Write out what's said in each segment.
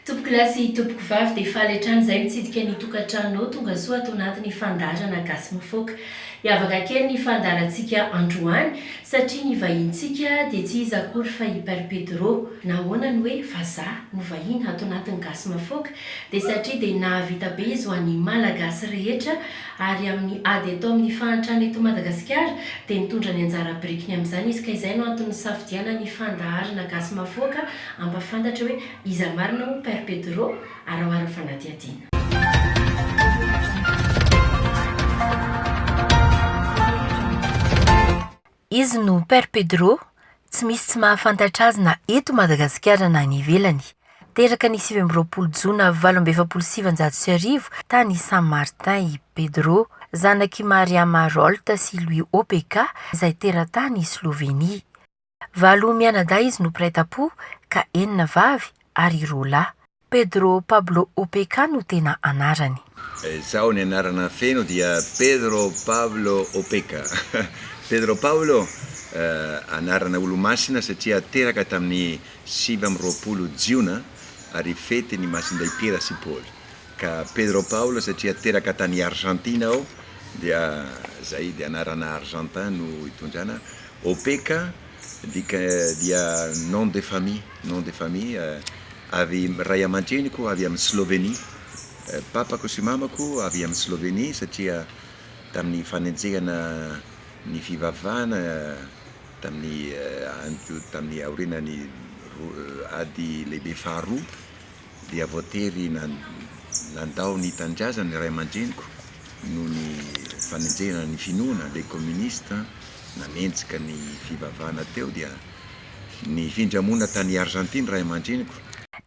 Tompoko lahy sy tompoko vavy dia faly hatrany izay mitsidika ny tokantranonao tonga soa ato anatin'ny fandaharana Gasy Mifoaka. Hiavaka kely ny fandaharantsika androany satria ny vahinintsika dia tsy iza akory fa i Père Pedro. Nahoana ny hoe vazaha no vahiny ato anatin'ny Gasy Mafoaka? Dia satria dia nahavita be izy ho an'ny Malagasy rehetra ary amin'ny ady atao amin'ny fahantrana eto Madagasikara dia nitondra ny anjara birikiny amin'izany izy ka izay no antony nisafidianan'ny fandaharana gasy mahafoaka hampafantatra hoe iza marina moa Père Pedro araoharan'ny fanadihadiana. Izy no Père Pedro, tsy misy tsy mahafantatra azy na eto Madagasikara na any ivelany. Teraka ny sivy amby roapolo jona valo amby efapolo sy sivinjato sy arivo tany San Martin i Pedro, zanak'i Mariama Rolt sy Louis Opeka izay teratany Slovenia. Valo mianadahy izy no mpiray tampo ka enina vavy ary roa lahy. Pedro Pablo Opeka no tena anarany. Izao ny anarana feno dia Pedro Pablo Opeka. Pedro Pablo, anarana olomasina satria teraka tamin'ny sivy amby roapolo jiona ary fety ny masindahy Piera sy Paoly. Ka Pedro Pablo satria teraka tany Argentina aho dia zay dia anarana argentin no itondrana. Opeka. Midika dia nom de famille, nom de famille, avy, ray aman-dreniko avy amin'i Slovenia, papako sy mamako avy amin'i Slovenia satria tamin'ny fanenjehana ny fivavahana tamin'ny andro, tamin'ny aorianan'ny ady lehibe faharoa, dia voatery nandao ny tanindrazany ny ray aman-dreniko noho ny fanenjehana ny finoana, les communistes nanenjika ny fivavahana teo dia nifindra monina tany Arzantina ray aman-dreniko.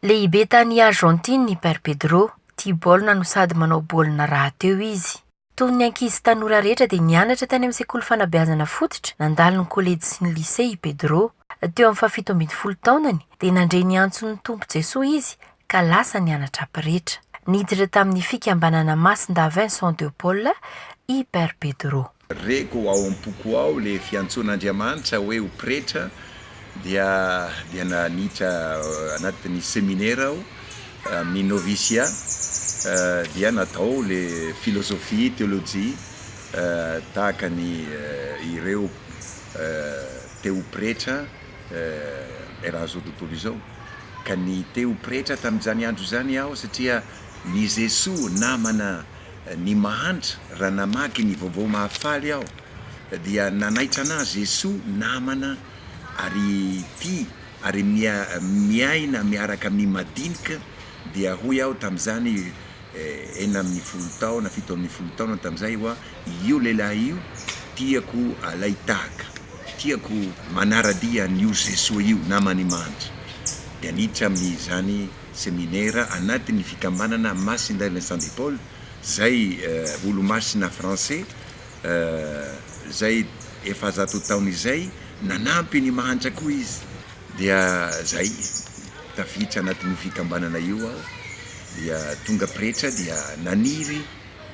Lehibe tany Arzantina i Père Pedro, tia baolina no sady manao baolina rahateo izy. Toy ny ankizy tanora rehetra dia nianatra tany amin'ny sekoly fanabeazana fototra nandalo ny kolejy sy ny lisea i Pedro. Teo amin'ny fahafito ambin'ny folo taonany dia nandre ny antson'ny Tompo Jesoa izy ka lasa nianatra pretra. Niditra tamin'ny fikambanana Masindahy Vincent de Paul i Père Pedro. Reko ao am-poko ao ilay fiantsoan'Andriamanitra hoe ho pretra. dia dia naniditra anatin'ny seminera aho amin'ny noviciat dia natao le philosophie, théologie tahaka ny ireo te ho pretra eran'ny zao tontolo izao ka ny te ho pretra tamin'izany andro izany aho satria ny Jesoa namana ny mahantra raha namaky ny vaovao mahafaly aho Dia nanaitra anah Jesoa namana ary ity ary miaina miaraka amin'ny madinika dia hoy aho tamin'izany enina ambin'ny folo taona fito ambin'ny folo taona tamin'izay hoa io lehilahy io tiako alay tahaka tiako manaradia an'io Jesoa io namany mantsy dia niditra amin'izany seminera anatin'ny fikambanana Masindahy Vincent de Paul izay olomasina français Izay efa zato taona izay, nanampy ny mahantra koa izy. Dia izay, tafiditra anatin'io fikambanana io aho, dia tonga pretra dia naniry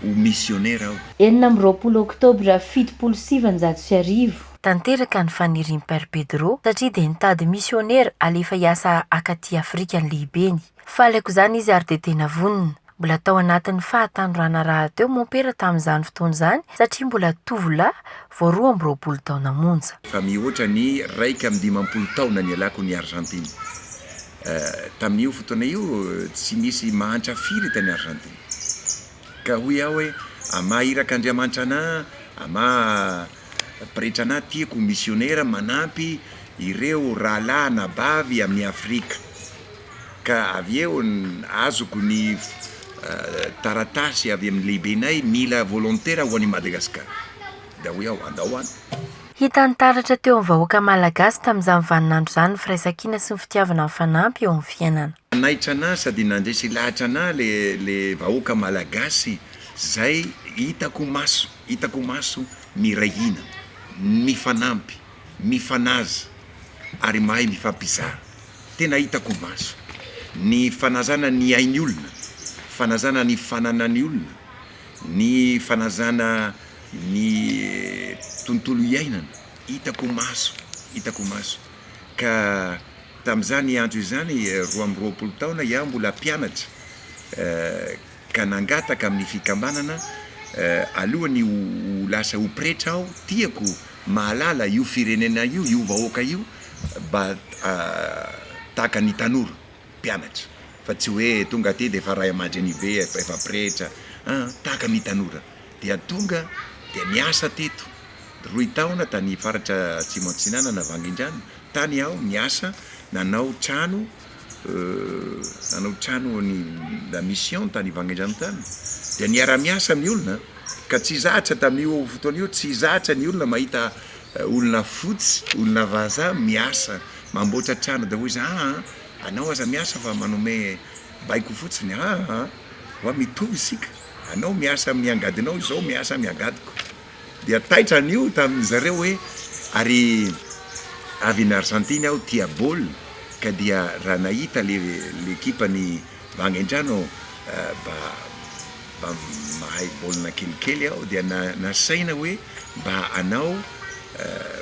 ho misionera aho. Enina amby roapolo oktobra fitopolo sy sivanjato sy arivo. Tanteraka ny fanirian'i Père Pedro satria dia nitady misionera halefa hiasa akaty Afrika ny lehibeny. Faly aok'izany izy ary dia tena vonona. Mbola tao anatin'ny fahatanorana rahateo mompera tamin'izany fotoana izany satria mbola tovolahy vao roa amby roapolo taona monja. Fa mihoatra ny iraika amby dimampolo taona nialako ny Arzantina. Tamin'io fotoana io tsy nisy mahantra firy tany Arzantina. Ka hoy aho hoe, Amà irak'Andriamanitra anà, amà Pretra na tia ko misionera manampy ireo rahalahy anabavy amin'ny Afrika. Ka avy eo azoko ny taratasy avy amin'ny lehibenay mila volontera ho any Madagascar. Dia hoy aho, andao any. Hitany taratra teo amin'ny vahoaka Malagasy tamin'izany vaninandro izany ny firaisankina sy ny fitiavana mifanampy eo amin'ny fiainana. Nanaitra an'ahy sady nandresy lahatra an'ahy le vahoaka Malagasy zay hitako maso. Hitako maso miray hina, mifanampy, mifanaja ary mahay mifampizara. Tena hitako maso. Ny fanajana ny ain'ny olona, fanajana ny fananan'ny olona, ny fanajana ny tontolo iainana, hitako maso, hitako maso. Ka tamin'izany andro izany, roa amby roapolo taona iah mbola mpianatra, ka nangataka amin'ny fikambanana alohan'ny ho lasa ho pretra aho, tiako mahalala io firenena io, io vahoaka io mba tahaka ny tanora mpianatra fa tsy hoe tonga aty dia efa ray aman-dreny be, efa pretra an, tahaka ny tanora dia tonga dia niasa teto roy taona tany faritra atsimo atsinanana Vangindrano tany aho niasa nanao trano nanao trano ny la mission tany Vangaindrano dia niara-miasa ny olona ka tsy zatra tamin'io fotoana io tsy zatra ny olona mahita olona fotsy olona vazaha miasa mamboatra trano dia hoy izy aa anao aza miasa fa manome baiko fotsiny aa ho'a mitovy isika anao miasa amin'ny angadinao izaho miasa amin'ny angadiko Dia taitra anio tamin-dry zareo hoe, ary avy any Arzantina aho tia baolina ka dia raha nahita le ekipan'i Vangendrano aho mba mba mahay baolina kelikely aho dia na nasaina hoe mba hanao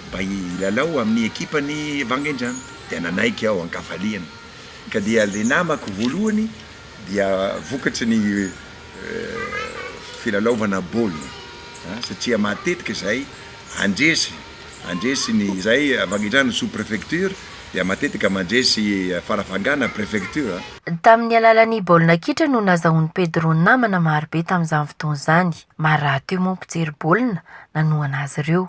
mba hilalao amin'ny ekipan'i Vangendrano dia nanaiky aho an-kafaliana ka dia le namako voalohany dia vokatry ny filalaovana baolina satria matetika izahay handresy handresy ny izahay avy any an-trano sous prefecture dia matetika mandresy farafangana prefecture. Tamin'ny alalan'ny baolina kitra no nazahoan'i Pedro namana marobe tamin'izany fotoana izany. Maro rahateo moa ny mpijery baolina nanohana azy ireo.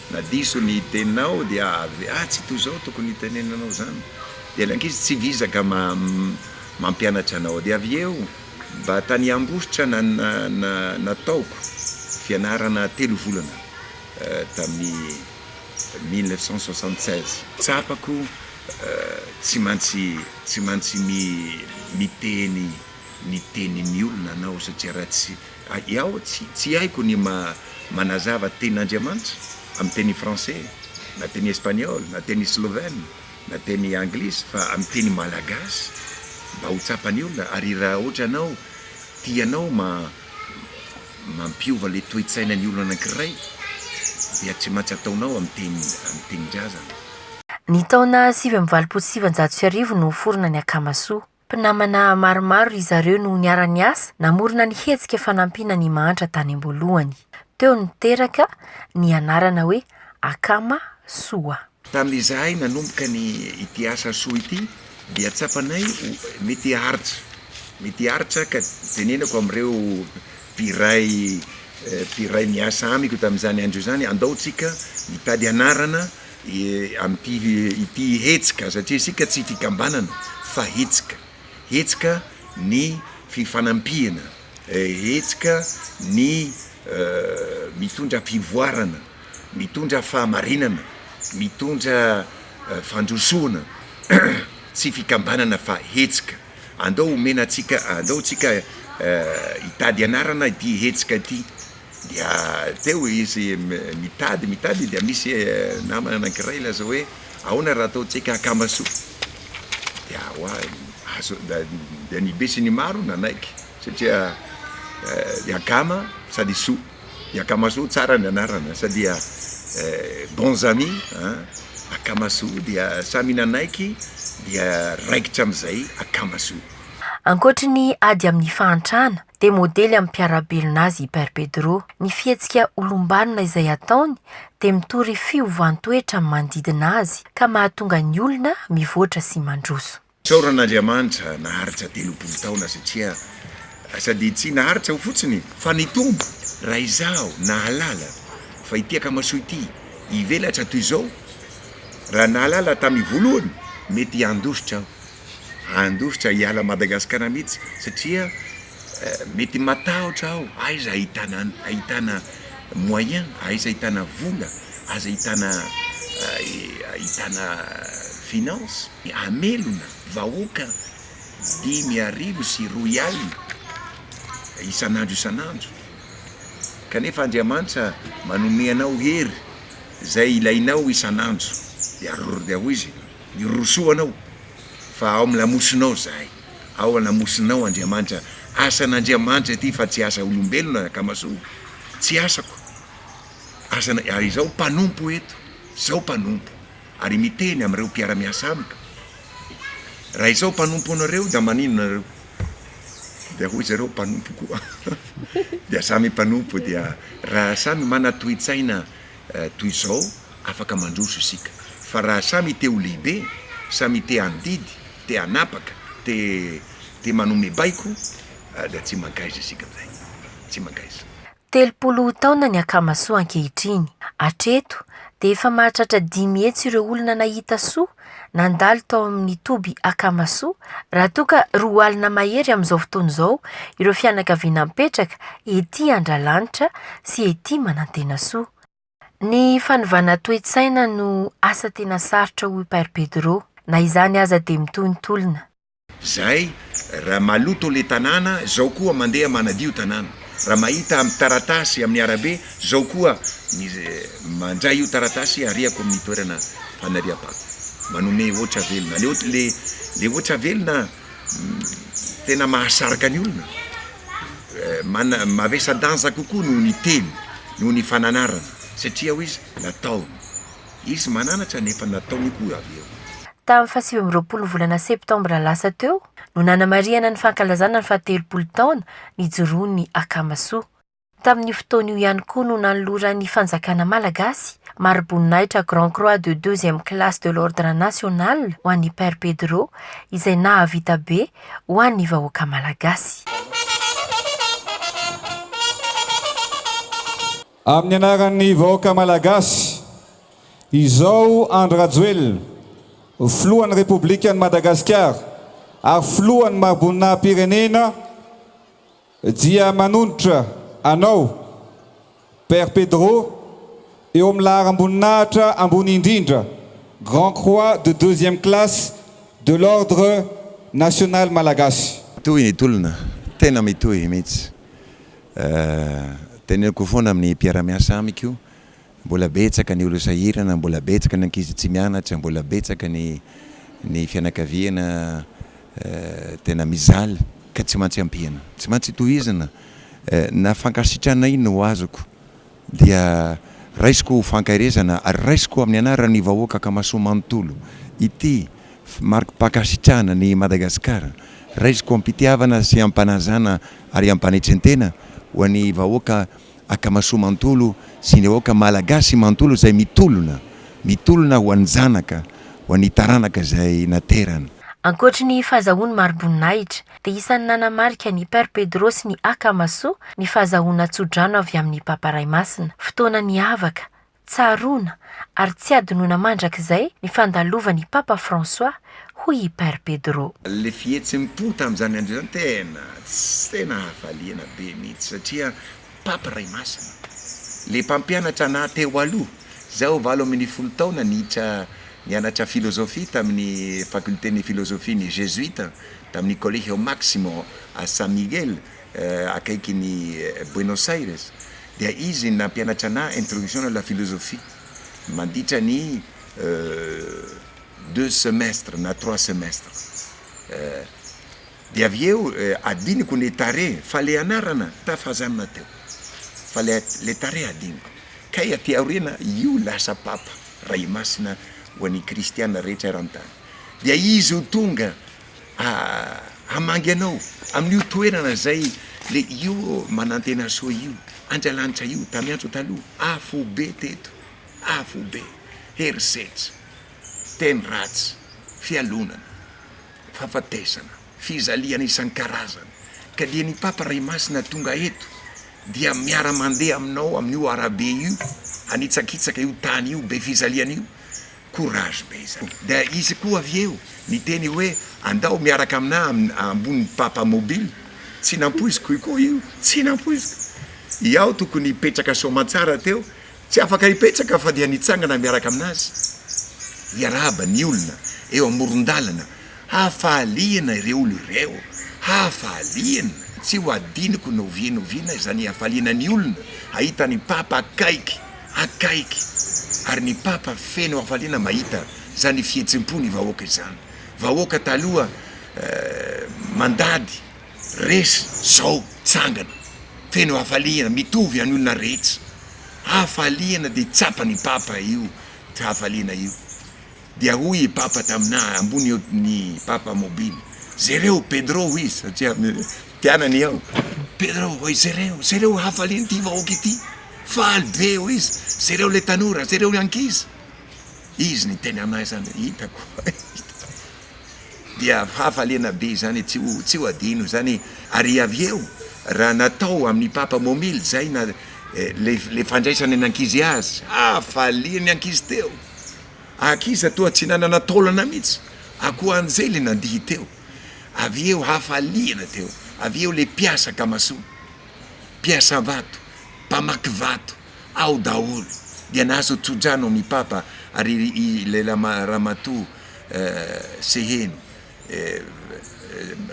Na diso ny teninao dia avy atsy toy izao tokony hitenenanao izany dia ilay ankizy tsy vizaka mampianatra anao dia avy eo mba tany ambositra nataoko fianarana telo volana tamin'ny mille neuf cent soixante seize. Tsapako tsy mantsy tsy mantsy miteny ny tenin'ny olona anao satria raha tsy Aiao, tsy haiko ny manazava tenin' Andriamanitra amin'ny teny français, na teny espagnol, na teny slovène, na teny anglisy, fa amin'ny teny malagasy mba ho tsapan'ny olona, ary raha ohatra ianao tianao mampiova ilay toe-tsainan'ny olona anankiray dia tsy maintsy ataonao amin'ny tenin-drazana. Ny taona sivy amby valopolo sy sivinjato sy arivo no niforona ny Akamasoa. Mpinamana maromaro ry zareo no niara-niasa namorona ny hetsika fanampiana an'i Mahantra tany am-boalohany. Teo no teraka ny anarana hoe Akama Soa. Tamin'izahay nanomboka ny ity asa soa ity dia tsapanay ho mety haharitra, mety haharitra ka tenenako amin'ireo mpiray mpiray miasa amiko tamin'izany andro izany, andao tsika mitady anarana, Ampy ity hetsika satria isika tsy fikambanana fa hetsika, hetsika ny fifanampiana, hetsika ny mitondra fivoarana, mitondra fahamarinana, mitondra fandrosoana, tsy fikambanana fa hetsika. Andao omena antsika, andao tsika hitady anarana ity hetsika ity. Dia teo izy mitady mitady dia misy namana anankiray ilazao hoe ahoana raha ataontsika akama soa dia hoa azo dia ny be sy ny maro nanaiky satria ny akama sady soa ny akamasoa tsara ny anarana sa dia bons amis an akamasoa dia samy nanaiky dia raikitra amin'izay akamasoa. Ankoatry ny ady amin'ny fahantrana, dia modely amin'ny mpiara-belona azy i Père Pedro. Ny fihetsika olom-banona izay ataony dia mitory fiovan-toetra amin'ny manodidina azy ka mahatonga ny olona mivoatra sy mandroso. Isaorana an'Andriamanitra naharitra telopolo taona satria sady tsy naharitra aho fotsiny fa ny Tompo raha izaho nahalala fa ity akamasoa ity hivelatra toy izao raha nahalala tamin'ny voalohany mety handositra aho. handositra hiala Madagasikara mihitsy satria mety matahotra aho aiza ahitana ahitana moyen aiza ahitana vola aiza ahitana ahitana finance hamelona vahoaka dimy arivo sy roy alina isan'andro isan'andro kanefa Andriamanitra manome anao hery izay ilainao isan'andro dia ary dia hoy izy Mirosoa anao, fa ao amin'ny lamosinao izahay. Ao an-lamosinao, Andriamanitra. Asan'Andriamanitra ity, fa tsy asa olombelona, anakamasoa. Tsy asako. Asana, ary izaho mpanompo eto. Izaho mpanompo. Ary miteny amin'ireo mpiara-miasa amiko. Raha izaho mpanompo anareo, dia maninona ianareo? Dia hoy zareo, Mpanompo koa. Dia samy mpanompo, dia raha samy mana-toetsaina toy izao, Afaka mandroso isika, fa raha samy te ho lehibe, samy te handidy, te hanapaka, te te manome baiko, dia tsy mankaiza isika amin'izay. Tsy mankaiza. Telopolo taona ny Akamasoa ankehitriny. Hatreto, dia efa mahatratra dimy hetsy ireo olona nahita soa nandalo tao amin'ny toby Akamasoa, raha toa ka roa alina mahery amin'izao fotoana izao ireo fianakaviana mipetraka ety Andralanitra sy ety Manantenasoa. Ny fanovana toe-tsaina no asa tena sarotra hoy Père Pedro. Na izany aza dia mitohy ny tolona. Zay ra maloto le tanàna zao koa mandeha manadio tanàna ra mahita am taratasy amin'ny arabe zao koa mandray io taratasy ariako amin'ny toerana fanariam-pako manome hoatra velona le le hoatra velona tena mahasarika ny olona, mana- mavesa-danja kokoa noho ny teny, noho ny fananarana, satria hoy izy, nataony. Izy mananatra nefa nataony koa avy eo. Tamin'ny fahasivy amby roapolo volana septambra lasa teo no nanamarihana ny fankalazana ny fahatelopolo taona nijoroan'ny Akama Soa. Tamin'io fotoana io ihany koa no nanoloran'ny fanjakana malagasy mariboninahitra Grand Croix de deuxième classe de l'Ordre National ho an'i Père Pedro izay nahavita be ho an'ny vahoaka malagasy. Amin'ny anaran'ny vahoaka malagasy, izao Andry Rajoelina, Filohan'ny Repoblikan'i Madagasikara ary Filohan'ny mariboninahim-pirenena, Dia manondrotra anao, Père Pedro, eo amin'ny laharam-boninahitra ambony indrindra, Grand Croix de deuxième classe de l'Ordre National Malagasy. Mitohy ny tolona, tena mitohy mihitsy. Teneniko foana amin'ny mpiara-miasa amiko, mbola betsaka ny olona sahirana, mbola betsaka ny ankizy tsy mianatra, mbola betsaka ny ny fianakaviana tena mijaly ka tsy mantsy ampiana, tsy mantsy tohizina, na fankasitrana iny no azoko dia raisiko ho fankaherezana ary raisiko amin'ny anaran'ny vahoaka Akamasoa manontolo ity marikim-pankasitrahana ny Madagasikara, raisiko am-pitiavana sy am-panajana ary am-panetren-tena ho an'ny vahoaka Akamasoa manontolo sy ny vahoaka Malagasy manontolo izay mitolona, mitolona ho an'ny zanaka, ho an'ny taranaka izay naterany. Ankoatry ny fahazahoany mari-boninahitra, dia isan'ny nanamarika ny Père Pedro sy ny Akamasoa ny fahazahoana tso-drano avy amin'ny Papa Ray Masina, fotoana niavaka, Tsaroana ary tsy hadinoina mandrakizay ny fandalovan' i Papa François, hoy i Père Pedro. Ilay fihetsem-po tamin'izany andro izany tena tsy te nahafaliana be mihitsy satria Papa Ray Masina, ilay mpampianatra anah teo aloha, izaho valo ambin'ny folo taona niditra nianatra filozofia tamin'ny fakolten'ny filozofian'ny Jezuita tamin'ny Colegio Máximo a San Miguel, akaikin'i Buenos Aires, dia izy nampianatra ana Introduction à la philosophie manditra ny deux semestres na trois semestres, dia avy eo adinoko ny tare fa ilay anarana tafazanona teo, fa ilay tare adinoko, kay aty aoriana io lasa Papa, Ray Masina ho an'ny Kristiana rehetra eran-tany, dia izy ho tonga hamangy anao amin'io toerana izay le io manantena soa io Andrialanitra io tamiantso taloha afobe teto afobe herisetra teny ratsy fialonana fafatesana fizalihana isankarazany ka dia ny papa ray masina tonga eto dia miara-mandeha aminao amin'io arabe io hanitsakitsaka io tany io be fizalihana io courage be zany. Dia izy koa avy eo niteny hoe andao miaraka aminà ambonin'ny papa mobile, tsy nampoiziko koa io, tsy nampoiziko. I Ao tokony hipetraka soamantsara teo, tsy afaka hipetraka fa dia nitsangana miaraka amin'azy. Hiarahaba ny olona eo amoron-dalana Hafaliana ireo olona ireo, hafaliana! Tsy ho adinoko na oviana na oviana izany hafaliana ny olona hahita ny Papa akaiky, akaiky! Ary ny Papa feno hafaliana mahita izany fihetsem-po ny vahoaka izany. Vahoaka taloha mandady, resy, izao mitsangana, feno hafaliana, mitovy any olona rehetra. Hafaliana dia tsapa ny Papa io hafaliana io. Dia hoy i Papa taminà, ambony eo ny Papa mobily, Jereo Pedro, hoy izy, satria mpianany aho, Pedro, hoy, jereo, jereo hafalian'ity vahoaka ity, faly be, hoy izy, jereo ilay tanora, jereo ny ankizy. Izy niteny aminà izany hoe, Hitako, hitako. Dia fahafaliana be izany, tsy ho, tsy ho adino izany. Ary avy eo, raha natao amin'i Papa momily izay, na, eh, ilay, ilay fandraisana ny ankizy azy, hafalian'ny ankizy teo. Aky iza toa tsy nanana taolana mihitsy akoa an'izay le nandihy teo avy eo hafaliana teo avy eo le mpiasa kamasoa mpiasa vato mpamaky vato ao daholo dia nahazo tsodrano am i papa ary i le ramatoa seheno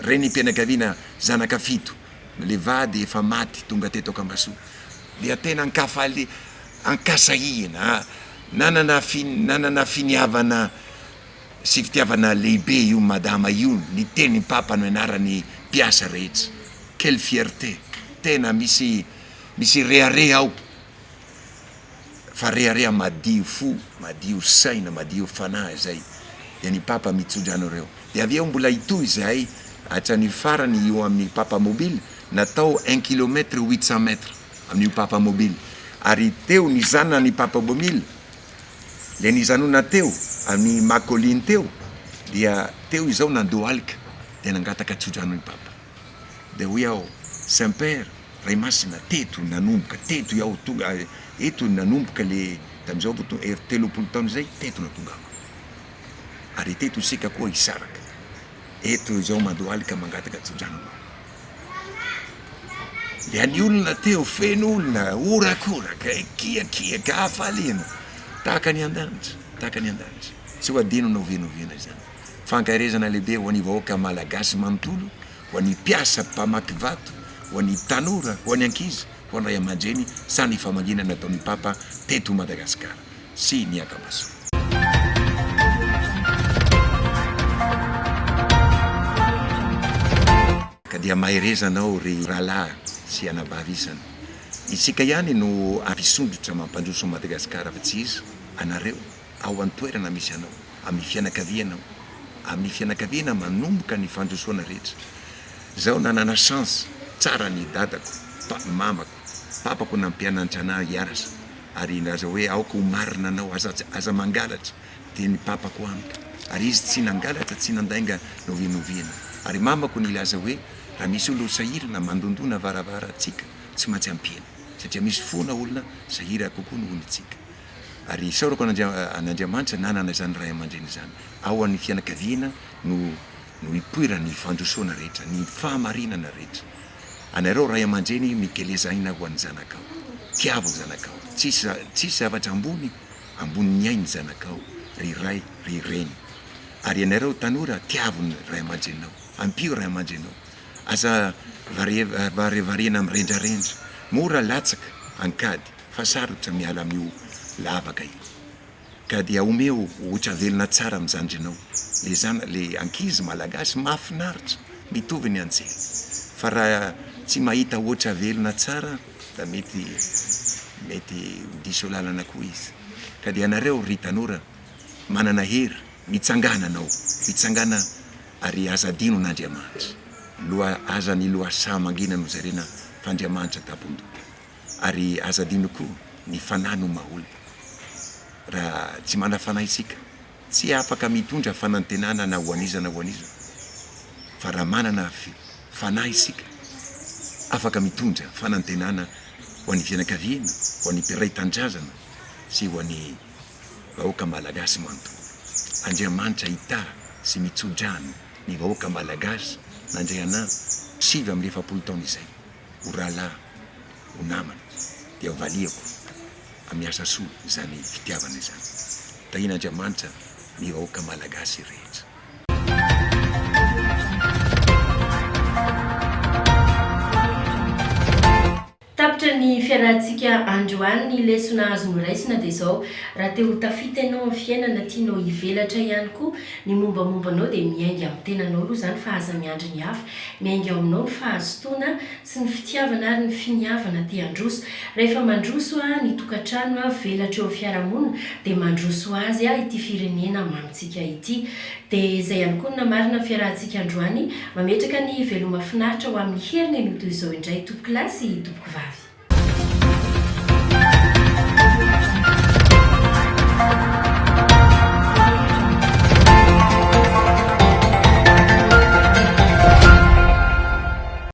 renim pianakaviana zanaka fito le vady efa maty tonga teto akamasoa dia tena ankafalia Ankasahihina, nanana fi, nanana finiavana sy fitiavana lehibe io Madama io niteny Papa no ianaran'ny mpiasa rehetra. Quelle fierté! Tena misy, misy rehareha ao, fa rehareha madio fo, madio saina, madio fanahy izay. Dia ny Papa mitso-dra anareo. Dia avy eo mbola hitohy izahay hatrany farany io amin'ny Papa Mobile, natao un kilomètre huit cents mètres. amin'io Papamobil ary teo ny zanany Papabomil dia nijanona teo amin'i Makolin teo dia teo izao nandohalika dia nangataka tsodrano i Papa dia hoy aho Saint Père Ray Masina teto nanomboka teto iaho tonga eto nanomboka le tamin'izao vao tonga er telopolo taona izay teto no tongako ary teto isika koa hisaraka eto izao mandohalika mangataka tsodrano anao Dia any olona teo, feno olona, horakoraka, ekiakiaka, hafaliana, tahaka ny an-danitra, tahaka ny an-danitra. Tsy ho adino na ovenovenona izany. Fankaherezana lehibe ho an'ny vahoaka Malagasy manontolo, ho an'ny mpiasa, mpamakivato, ho an'ny tanora, ho an'ny ankizy, ho an'ny ray aman-dreny, saha ny famangiana nataon'ny Papa teto Madagasikara. sy ny ankamason. Ka dia maherezana ao ry rahalahy sy anabavy isany. Isika ihany no ampisondrotra mampandroso an'i Madagasikara fa tsy iza, anareo ao an-toerana misy anao, amin'ny fianakaviana ao, amin'ny fianakaviana manomboka ny fandrosoana rehetra. Zao nanana chance tsara ny dadako, mamako. Tsy tapako nampianantranahy hiasa ary nilaza hoe aoka ho marina anao aza aza mangalatra dia ny papako amiko ary izy tsy nangalatra tsy nandainga novinoviana ary mamako nilaza hoe raha misy olona ho sahirana mandondona varavaratsika tsy maintsy ampiana satria misy fona olona sahira kokoa noho ny tsika ary isaorako an'Andriamanitra nanana izany ray aman-dreny izany ao an'ny fianakaviana no no ipoiran'ny fandrosoana rehetra ny fahamarinana rehetra Anareo ray aman-dreny mikeleza aina ho an'ny zanakao. Tiavo ny zanakao. Tsisy tsisy zavatra ambony ambonin'ny ain'ny zanakao ry ray ry reny. Ary ianareo tanora tiavo ny ray aman-drenao. Ampio ray aman-drenao. Aza varivarena amin'ny rendrarendra. Mora latsaka ankady fa sarotra miala amin'io lavaka io. Ka dia omeo ohtra velona tsara amin'ny zandrinao le zana le ankizy malagasy mahafinaritra mitovy ny antsika fa raha tsy mahita ohtra velona tsara da mety mety ho diso lalana koa izy ka dia anareo ry tanora manana hery mitsangana anao mitsangana ary aza adino n'Andriamanitra loha aza ny lohasaha mangina no jerena f'Andriamanitra tabondota. ary aza adino koa ny fanahy no maha-olona. Raha tsy mana-fanahy isika, tsy afaka mitondra fanantenana na ho an'iza na ho an'iza, fa raha manana fanahy isika, afaka mitondra fanantenana ho an'ny fianakaviana, ho an'ny mpiray tanindrazana sy ho an'ny vahoaka malagasy manontolo. Andriamanitra hitaha sy mitso-drano ny vahoaka malagasy nandray anà sivy amby efapolo taona izay ho rahalahy ho namana dia ho valiako amin'ny asa soa izany fitiavana izany. Tahian'Andriamanitra ny vahoaka Malagasy rehetra. Tapitra ny fiarahantsika androany, ny lesona azo noraisina dia izao, raha te ho tafita ianao amin'ny fiainana, tianao hivelatra ihany koa ny mombamomba anao dia miainga amin'ny tenanao aloha izany fa aza miandry ny hafa, miainga ao aminao ny fahazotoana tsy ny fitiavana ary ny finiavana te handroso, rehefa mandroso aho ny tokantrano aho velatra eo am fiarahamonina dia mandroso azy aho ity firenena mamintsika ity dia izay ihany koa ny namarina ny fiarahantsika androany mametraka ny veloma finaritra ho amin'ny heriny ny ho toy izao indray tompokolahy sy tompokovavy.